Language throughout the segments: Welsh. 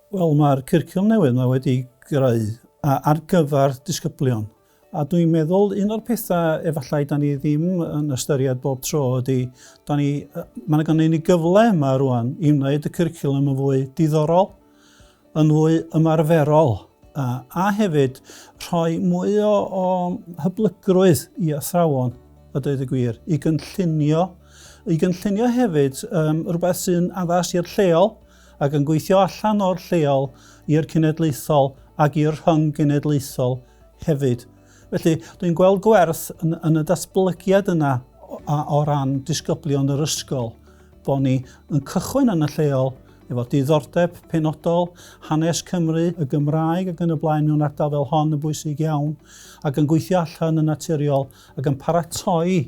Wel, mae'r cyrcwm newydd mae wedi greu ar gyfer disgyblion. A dwi'n meddwl un o'r pethau efallai da ni ddim yn ystyried bob tro ydy, da ni, mae yna gan ni gyfle yma rwan i wneud y cyrcwlwm yn fwy diddorol, yn fwy ymarferol a, a hefyd rhoi mwy o, o hyblygrwydd i athrawon, a dweud y gwir, i gynllunio, i gynllunio hefyd um, rhywbeth sy'n addas i'r lleol ac yn gweithio allan o'r lleol i'r cenedlaethol ac i'r rhyng genedlaethol hefyd. Felly, dwi'n gweld gwerth yn, yn y datblygiad yna o, o ran disgyblion yr ysgol. Bo ni yn cychwyn yn y lleol, efo diddordeb penodol, hanes Cymru, y Gymraeg ac yn y blaen mewn ardal fel hon yn bwysig iawn, ac yn gweithio allan yn naturiol ac yn paratoi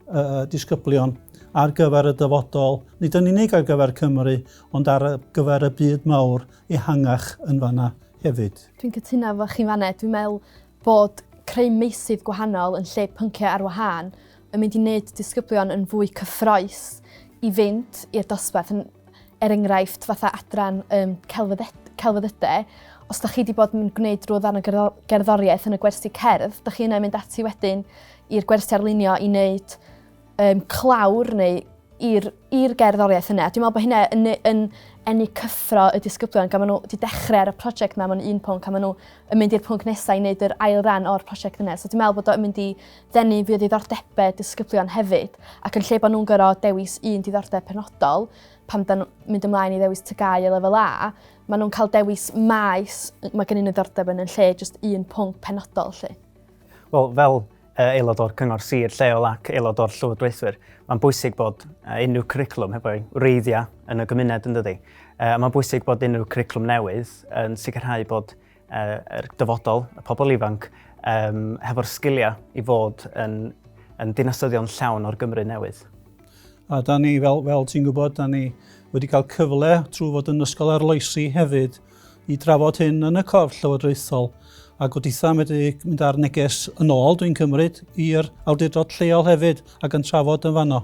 y disgyblion ar gyfer y dyfodol, nid yn unig ar gyfer Cymru, ond ar gyfer y byd mawr ehangach yn fanna hefyd. Dwi'n cytuno efo chi fan 'na. Dwi'n meddwl bod creu meysydd gwahanol yn lle pyncio ar wahân, yn mynd i wneud disgyblion yn fwy cyffroes i fynd i'r dosbarth, yn, er enghraifft, fatha adran um, celfyddyde, os da chi wedi bod yn gwneud rhyw ddarn o gerddoriaeth yn y gwersi cerdd, da chi yna yn mynd ati wedyn i'r gwersi arlunio i wneud um, clawr neu i'r gerddoriaeth yna. Dwi'n meddwl bod hynna yn, yn enni cyffro y disgyblion gan maen nhw wedi dechrau ar y prosiect yna mewn un pwnc a maen nhw yn mynd i'r pwnc nesaf i wneud yr ail ran o'r prosiect yna. So dwi'n meddwl bod o'n mynd i Denu fwy o ddiddordebau disgyblion hefyd, ac yn lle bod nhw'n gorfod dewis un diddordeb penodol, pan dan nhw'n mynd ymlaen i ddewis TGAU a Lefel A, maen nhw'n cael dewis maes mae gen i ddiddordeb yn yn lle jyst un pwnc penodol lle. Wel, fel aelod o'r Cyngor Sir lleol ac aelod o'r Llywodraethwyr, mae'n bwysig bod unrhyw cwricwlwm heb o'i wreiddiau yn y gymuned yn dydy. Mae'n bwysig bod unrhyw cwricwlwm newydd yn sicrhau bod yr dyfodol, y pobl ifanc, um, hefo'r sgiliau i fod yn, yn dinasyddion llawn o'r Gymru newydd. A da ni, fel, fel ti'n gwybod, da ni wedi cael cyfle trwy fod yn ysgol arloesi hefyd i drafod hyn yn y corff llywodraethol a gobeithio am wedi mynd â'r neges yn ôl, dwi'n cymryd, i'r awdurdod lleol hefyd ac yn trafod yn fanno.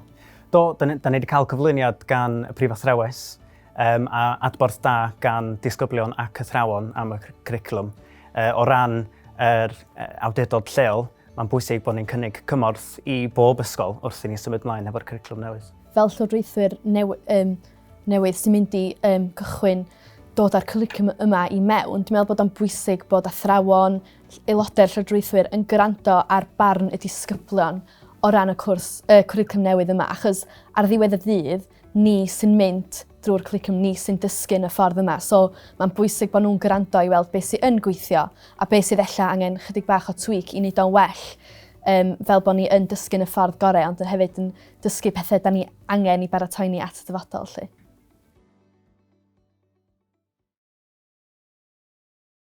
Do, da ni, da ni wedi cael cyflwyniad gan y Prif Athrawes Yym, a adborth da gan disgyblion ac athrawon am y cwricwlwm. E, o ran yr e, awdurdod lleol, mae'n bwysig bod ni'n cynnig cymorth i bob ysgol wrth i ni symud ymlaen efo'r cwricwlwm newydd. Fel llywodraethwyr new, um, newydd sy'n mynd i um, cychwyn dod â'r cwricwlwm yma i mewn, dwi'n meddwl bod o'n bwysig bod athrawon, aelodau'r llywodraethwyr yn gwrando ar barn y disgyblion o ran y cwrs, y cwricwlwm newydd yma, achos ar ddiwedd y dydd, ni sy'n mynd drwy'r cwricwlwm, ni sy'n dysgu yn y ffordd yma. So mae'n bwysig bod nhw'n gwrando i weld beth sy'n yn gweithio a beth sydd ella angen chydig bach o tweak i wneud o'n well um, fel bod ni yn dysgu yn y ffordd gorau ond yn hefyd yn dysgu pethau da ni angen i baratoi ni at y dyfodol. Lle.